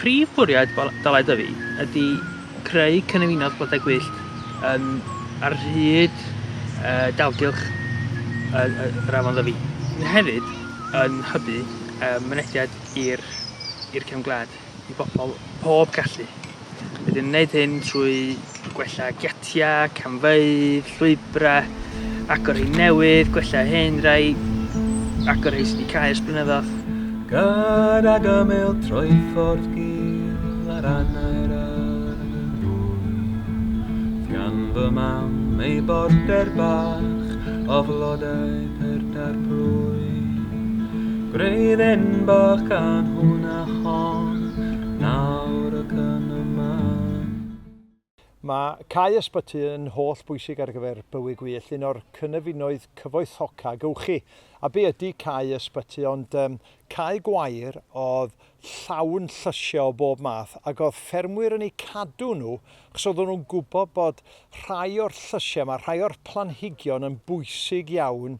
Prif fwriad Dalai Dyfi ydy creu cynefinoedd blodau gwyllt yn ar hyd dalgylch yr afon Ddyfi, sydd hefyd yn hybu mynediad i'r cefn gwlad. i bobl pob gallu. Rydyn yn gwneud hyn trwy gwella giatiau, camfeydd, llwybrau, agor rhai newydd, gwella hyn rhai, agor rhai sydd wedi cael ers blynyddoedd. Gad ag ymyl trwy ffordd gil ar anau'r arglwydd, gan fy mam ei border bach o flodau perda'r plwyf. Gwreidd enbach gan hwnna a hon, nawr ac yn y man. Mae cau ysbyty yn holl bwysig ar gyfer bywyd gwyllt, un o'r cynefinoedd cyfoethoca gewch chi. A be ydy cau ysbyty ond um, cau gwair oedd llawn llysiau o bob math ac oedd ffermwyr yn eu cadw nhw achos oedden nhw'n gwybod bod rhai o'r llysiau yma, rhai o'r planhigion yn bwysig iawn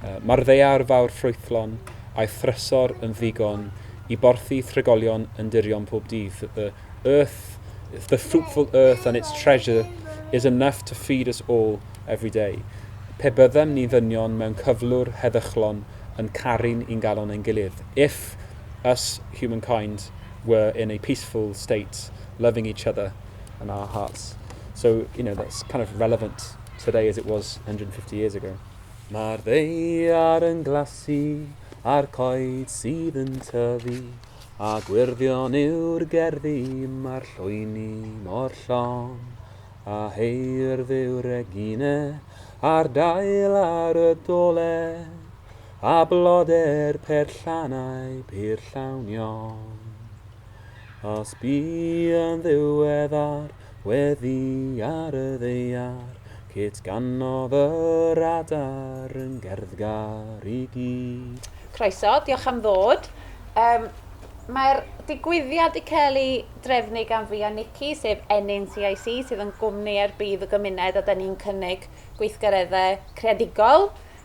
Mae'r ddaear fawr ffrwythlon a'i thrysor yn ddigon i borthi tregolion yn dirion pob dydd. The earth, the fruitful earth and its treasure is enough to feed us all every day. Pe byddem ni ddynion mewn cyflwr heddychlon yn caru'n ungalon ein gilydd, If us humankind were in a peaceful state, loving each other in our hearts. So, you know, that's kind of relevant today as it was 150 years ago. Mae'r ddaear yn glasu a'r coed sydd yn tyfu, a gwyrddion yw'r gerddi, mae'r llwyni mor llon, a heirdd yw Regine a'r dail ar y dolen, a blodau'r perllannau pur llawn iawn. Os bu yn ddiweddar Weddi ar y ddaear, Kate ganodd yr adar yn gerddgar i gyd. Croeso, diolch am ddod. Um, Mae'r digwyddiad wedi cael ei drefnu gan fi a Nikki, sef Ennyn CIC, sydd yn gwmni ar bydd y gymuned a da ni'n cynnig gweithgareddau creadigol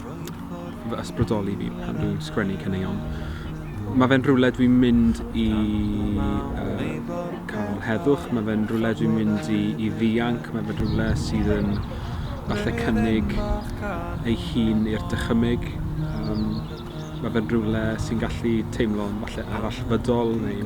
fy ysbrydoli fi pan dwi'n sgwennu caneuon. Mae fe'n rhywle dwi'n mynd i uh, cael heddwch, mae fe'n rhywle dwi'n mynd i, i ddianc, mae fe'n rhywle sydd yn falle cynnig ei hun i'r dychymyg. Um, mae fe'n rhywle sy'n gallu teimlo'n falle arallfydol neu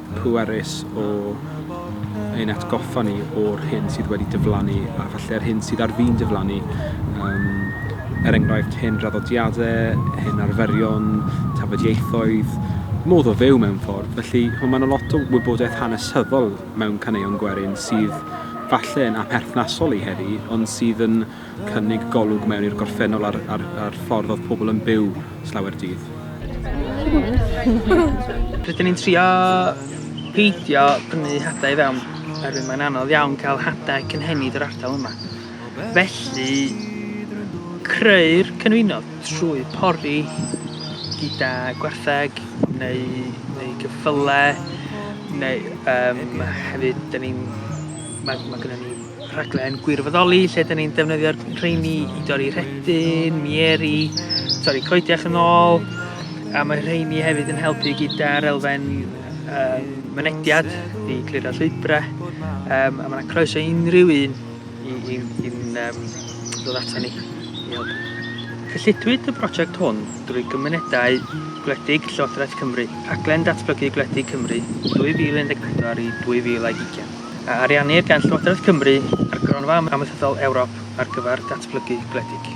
pwerus o ein atgoffa ni o'r hyn sydd wedi diflannu a falle'r hyn sydd ar fin diflannu. Um, er enghraifft, hyn draddodiadau, hyn arferion, tafodieithoedd, modd o fyw mewn ffordd. Felly, mae yna lot o wybodaeth hanesyddol mewn caneuon gwerin sydd falle yn aperthnasol i heddi, ond sydd yn cynnig golwg mewn i'r gorffennol a'r, a'r, a'r ffordd oedd pobl yn byw slawer dydd. Rydyn ni'n trio peidio prynu hadau i fewn, oherwydd mae'n anodd iawn cael hadau cynhenid yr ardal yma. Felly, creu'r cynwynodd trwy pori gyda gwartheg neu, neu gyffyle, neu um, hefyd, da ni'n... Mae, mae gennym ni rhaglen gwirfoddoli lle dyn ni'n defnyddio'r rheini i dorri rhedyn, mieri, torri coediach yn ôl, a mae rheini hefyd yn helpu gyda'r elfen um, mynediad i clirio llwybrau, um, a mae'n croeso unrhyw un i, i, i um, ddod ato ni i helpu. Cyllidwyd y prosiect hwn drwy gymunedau gwledig Llywodraeth Cymru, rhaglen datblygu gwledig Cymru 2014 i 2020. a ariannir gan Llywodraeth Cymru a'r Gronfa Amaethyddol Ewrop ar gyfer Datblygu Gwledig.